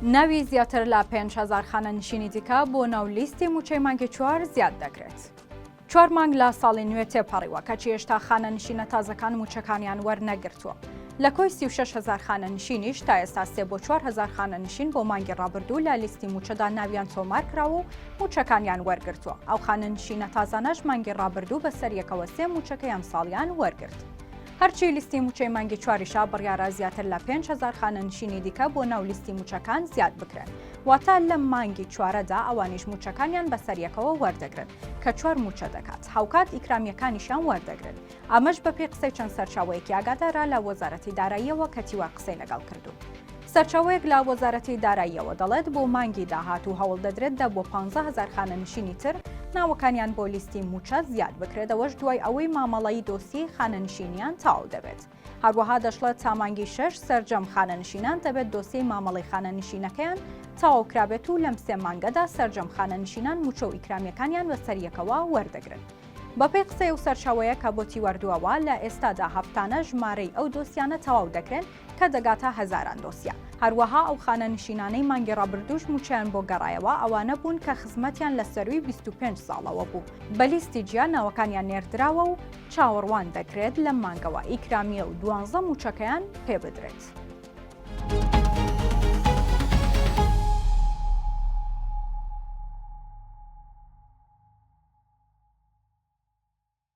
ناوی زیاتر لە پێنج هەزار خانەنشینی دیکە بۆ ناو لیستی مووچەی مانگی چوار زیاد دەکرێت. چوار مانگ لە ساڵی نوێ تێپەڕیوە، کەچی هێشتا خانەنشینە تازەکان مووچەکانیان وەرنەگرتووە. لە کۆی سی و شەش هەزار خانەنشینیش تا ئێستا سێ بۆ چوار هەزار خانەنشین بۆ مانگی ڕابردوو لە لیستی مووچەدا ناویان تۆمار کراوە و مووچەکانیان وەرگرتووە. ئەو خانەنشینە تازانەش مانگی ڕابردوو بەسەریەکەوە سێ مووچەکەی ئەمساڵیان وەرگرت. هەرچی لیستی مووچەی مانگی چواریشە بڕیارە زیاتر لە پێنج هەزار خانەنشینی دیکە بۆ ناو لیستی مووچەکان زیاد بکرێن واتە لەم مانگی چوارەدا ئەوانیش مووچەکانیان بەسەریەکەوە وەردەگرن کە چوار مووچە دەکات هاوکات ئیکرامیەکانیشیان وەردەگرن ئەمەش بەپێی قسەی چەند سەرچاوەیەکی ئاگادارە لە وەزارەتی داراییەوە کە تیوا قسەی لەگەڵ کردووم. سەرچاوەیەک لە وەزارەتی داراییەوە دەڵێت، بۆ مانگی داهاتوو هەوڵ دەدرێت دە بۆ پانزە هەزار خانەنشینی تر ناوەکانیان بۆ لیستی مووچە زیاد بکرێت، ئەوەش دوای ئەوەی مامەڵەی دۆسیەی خانەنشینیان تەواو دەبێت. هەروەها دەشڵێت، تا مانگی شەش سەرجەم خانەنشینان دەبێت دۆسیەی مامەڵەی خانەنشینەکەیان تەواو کرابێت و لەم سێ مانگەدا سەرجەم خانەنشینان مووچە و ئیکرامییەکانیان بەسەر یەکەوە وەردەگرن. بەپێی قسەی ئەو سەرچاوەیە کە بۆتی وەردووەوە، لە ئێستادا هەفتانە ژمارەی ئەو دۆسیانە تەواو دەکرێن، کە دەگاتە هەزاران دۆسیە. هەروەها ئەو خانەنشینانەی مانگی ڕابردووش مووچەیان بۆ گەڕایەوە، ئەوانە بوون کە خزمەتیان لە سەرووی بیست و پێنج ساڵەوە بوو، بە لیستی جیا ناوەکانیان نێردراوە و چاوەڕوان دەکرێت لەم مانگەوە ئیکرامیە و دوانزە مووچەکەیان پێ بدرێت.